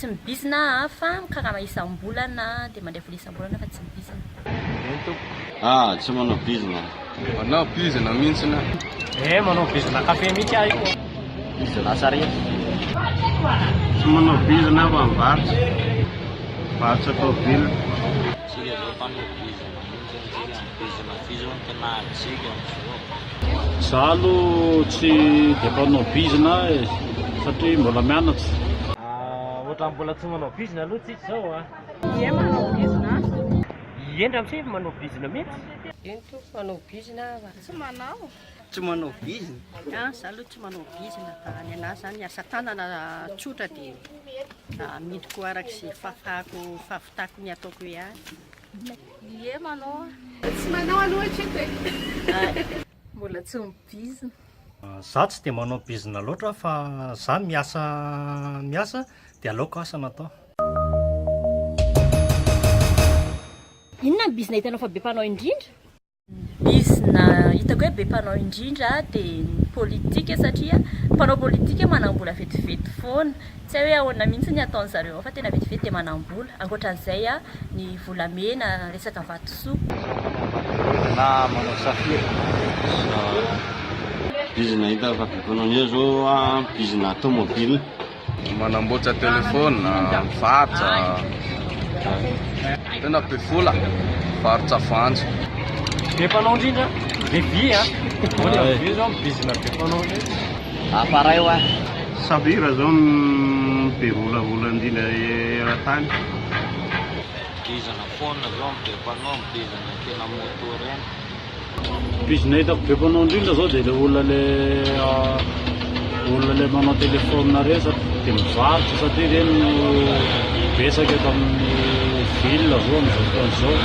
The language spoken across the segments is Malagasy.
Tsy mibizina aho fa mikarama isam-bolana dia mandray vola isam-bolana fa tsy mibizina. Eny tompoko. Ah, tsy manao bizina. Manao bizina mintsiny aho. Eh, manao bizina kafe mintsy aho io. Bizina sarety. Tsy manao bizina aho fa mivarotra. Mivarotra tôbily. Tsy le zao mpanao bizina. Za aloha tsy dia mpanao bizina e, satria mbola mianatra. Ohatran'ny mbola tsy manao bizina aloha tsika izao a! Ie manao bizina aza. Ie ndra msy manao bizina mihitsy. Eny tompoko manao bizina aho a. Tsy manao. Tsy manao bizina. An za aloha tsy manao bizina fa ny anahy zany asa tanana tsotra dia amidiko araka izay fahafahako fahafitako ny ataoko ihany. Ie manao a. Tsy manao aloha hatreto e. Mbola tsy mi-bizina. Za tsy dia manao bizina loatra fa za miasa miasa dia aleoko asa no atao. Inona ny bizina hitanao fa be mpanao indrindra? Bizina hitako hoe be mpanao indrindra dia ny politika satria mpanao politika manam-bola vetivety foana. Tsy hay hoe ahoana mihitsy ny ataon'ny zareo ao fa tena vetivety dia manam-bola. Ankoatran'izay ny volamena, resaka vatosoa. Na manao safira. Bizina hita fa be mpanao indrindra izao bizina tomobile. Manamboatra telephone, mivarotra, tena be vola, mivarotra voanjo. Be mpanao indrindra, be vy a! Ahoana ny vy zao bizina be mpanao indrindra? Appareil ho ahy. Safira zao no be volavola indrindra eran-tany. Bizina phone zao no be mpanao, ny bizina kena moto ireny. Bizina hitako be mpanao indrindra zao dia ilay olona le olona ilay manao téléphone resaka dia mivarotra satria ireny no betsaka eto amin'ny ville zao amin'izao fotoana izao.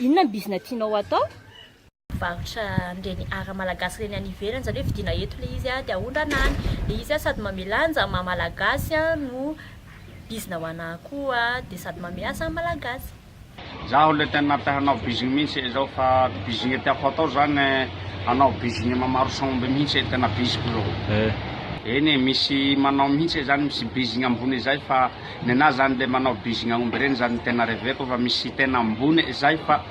Inona ny bizina tianao atao? varotra an'ireny art malagasy ireny any ivelany, izany hoe vidiana eto ilay izy dia aondrana any, dia izy an sady manome lanja ny maha malagasy an no bizina ho anahy koa dia sady manome asa ny malagasy. Izaho ilay tena te hanao bizina mihintsy e izao fa bizina tiako hatao izany hanao bizina mamarotra omby mihintsy e tena biziko izao e, eny e misy manao mihintsy e izany misy bizina ambony izay fa ny anahy izany ilay manao bizina omby ireny izany no tena reveko fa misy tena ambony izay fa.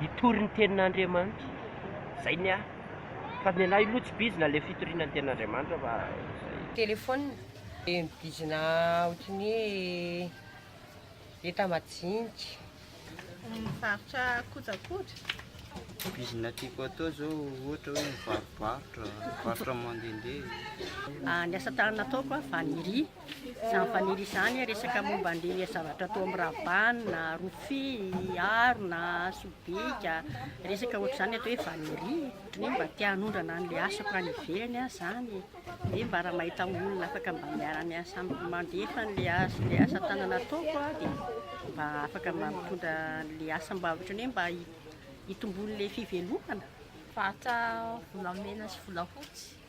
Hitory ny tenin'Andriamanitra. Zay ny ahy. Fa ny anah iloha tsy bizina le fitoriana ny tenin'Andriamanitra fa zay. Téléphone dia ny bizina ohatran'ny hoe enta majinika. Mivarotra kojakoja. Bizina tiako atao zao ohatra hoe mivarobarotra, mivarotra mandehandeha. Ny asa tanana ataoko a, vannerie. Izany fanely izany resaka momba an'ilay zavatra tao amin'ny Rabana, Rofia, Harona, Sobika, resaka ohatr'izany atao hoe vannerie. Ohatran'ny hoe mba te hanondrana an'ilay asako any ivelany aho izany e. Hoe mba raha mahita olona afaka mba miara-miasa amiko mandefa an'ilay asa, ilay asa tanana ataoko aho dia mba afaka mba mitondra an'ilay asa mba ohatran'ny hoe mba hitomboan'ilay fivelomana. Vata volamena sy volafotsy.